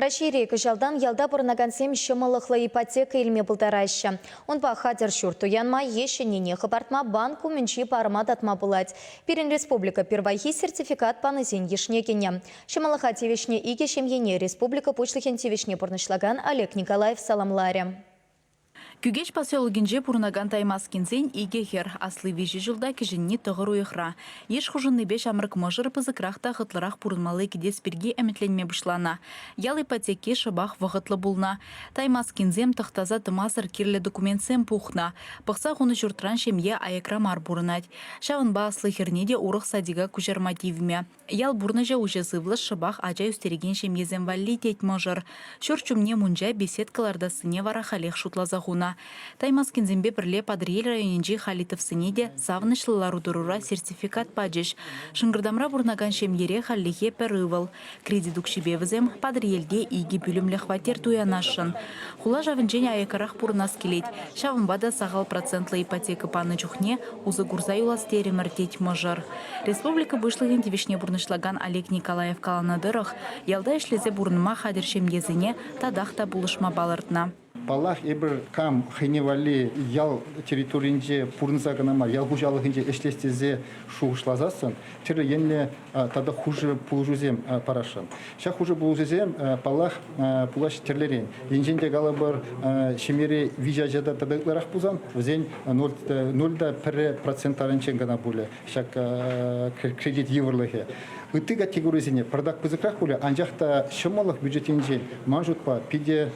Раҫҫейре кӑҫалтан ялта пурӑнакансем ҫӑмӑллӑхлӑ ипотека илме пултараҫҫӗ. Унпа хатӗр ҫурт туянма е ҫӗннине хӑпартма банк умӗнчи парӑма татма пулать. Пирӗн республика пирвайхи сертификат панисен йышне кӗнӗ. Ҫӑмӑллӑха тивӗҫнӗ икӗ ҫемьене республика Пуҫлӑхӗн тивӗҫне пурнӑҫлакан Олег Николаев саламларӗ. Кӳкеҫ поселокӗнче пурӑнакан Таймаскинсен икӗ хӗр, асли виҫӗ ҫулта, кӗҫӗнни тӑхӑр уйӑхра. Йыш хушӑннипе ҫамрӑк мӑшӑр пысӑкрах та хӑтлӑрах пурӑнмалли кӗтес пирки ӗмӗтленме пуҫланӑ. Ял ипотеки шӑпах вӑхӑтлӑ пулнӑ. Таймаскинсем тӑхтаса тӑмасӑр кирлӗ документсем пухнӑ. Пӑхса хунӑ ҫуртран ҫемье аякра мар пурӑнать. Ҫавӑнпа асли хӗрне те урӑх садика куҫарма тивмӗ. Ял пурнӑҫӗ уҫӑ сывлӑш, шӑпах ача ӳстерекен ҫемьесем валли, тет мӑшӑр. Ҫурт ҫумне мунча, беседка лартассине вара халех шутласа хунӑ. Таймаскинсемпе пӗрле Патӑрьел районӗнчи Халитовсене те савӑнӑҫлӑ лару-тӑрура сертификат пачӗҫ. Шӑнкӑртамра пурӑнакан ҫемьере хальлӗхе пӗр ывӑл. Кредит укҫипе вӗсем Патӑрьелте икӗ пӳлӗмлӗ хваттер туянасшӑн. Хула шавӗнчен аяккарах пурӑнас килет, ҫавӑнпа та сахал процентлӑ ипотека панӑ чухне усӑ курса юлас терӗмӗр, тет мӑшӑр. Республика Пуҫлӑхӗн тивӗҫне пурнӑҫлакан Олег Николаев каланӑ тӑрӑх, ялта ӗҫлесе пурӑнма хатӗр ҫемьесене татах та пулӑшма палӑртнӑ. Паллах, эпир кам хӑйне валли ял территорийӗнче пурӑнса кӑна мар, ял хуҫалӑхӗнче ӗҫлес тесе шухӑшласассӑн тӗрлӗ енлӗ тата хушӑ пулӑшусем парасшӑн. Ҫак хушӑ пулӑшусем, паллах, пулаҫ тӗрлӗрен. Енчен те калӑпӑр, ҫемьере виҫӗ ача та тата ытларах пулсан, вӗсен ноль та пӗрре процентаринчен кӑна пулӗ ҫак кредит йывӑрлӑхӗ. Ытти категорисене пӑртак пысӑкрах пулӗ, анчах та ҫӑмӑллӑх бюджет енчен, ман шутпа, питӗ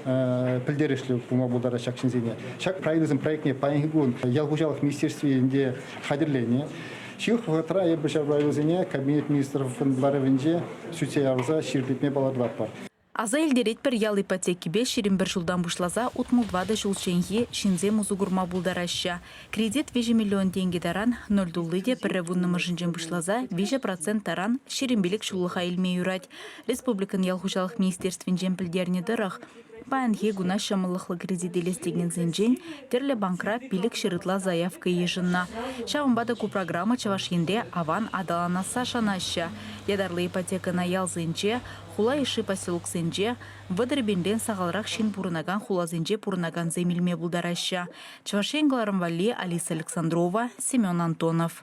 пӗлтерӗшлӗ пулма пултарать ҫак ҫынсене. Ҫак проектӑн проектне паянхи кун ял хуҫалӑх министерствинче хатӗрленӗ. Ҫывӑх вӑхӑтра эпӗ ҫав правилӑсене Кабинет министров ларӑвӗнче сӳтсе явса ҫирӗплетме палӑртатпӑр. Аса илтеретпӗр, ял ипотекипе ҫирӗм пӗр ҫултан пуҫласа утмӑл ватӑ ҫулчченхи ҫынсем усӑ курма пултараҫҫӗ. Кредит виҫӗ миллион тенкӗ таран, ноль тулли те пӗрре вуннӑмӗшӗнчен пуҫласа виҫӗ процент таран ҫирӗм пилӗк ҫуллӑха илме юрать. Республикӑн ял хуҫалӑх министерствинчен пӗлтернӗ тӑрӑх, Паянхи куна ҫӑмӑллӑхлӑ кредит илес текенсенчен тӗрлӗ банкра пилӗк ҫыр ытла заявка йышӑннӑ. Ҫавӑнпа та ку программа Чӑваш Енре аван аталанасса шанаҫҫӗ. Ятарлӑ ипотекӑна ялсенче, хула йышши поселоксенче, вӑтӑр пинпен сахалрах ҫын пурӑнакан хуласенче пурӑнакансем илме пултараҫҫӗ. Чӑваш Ен кӑларӑм валли Алиса Александрова, Семен Антонов.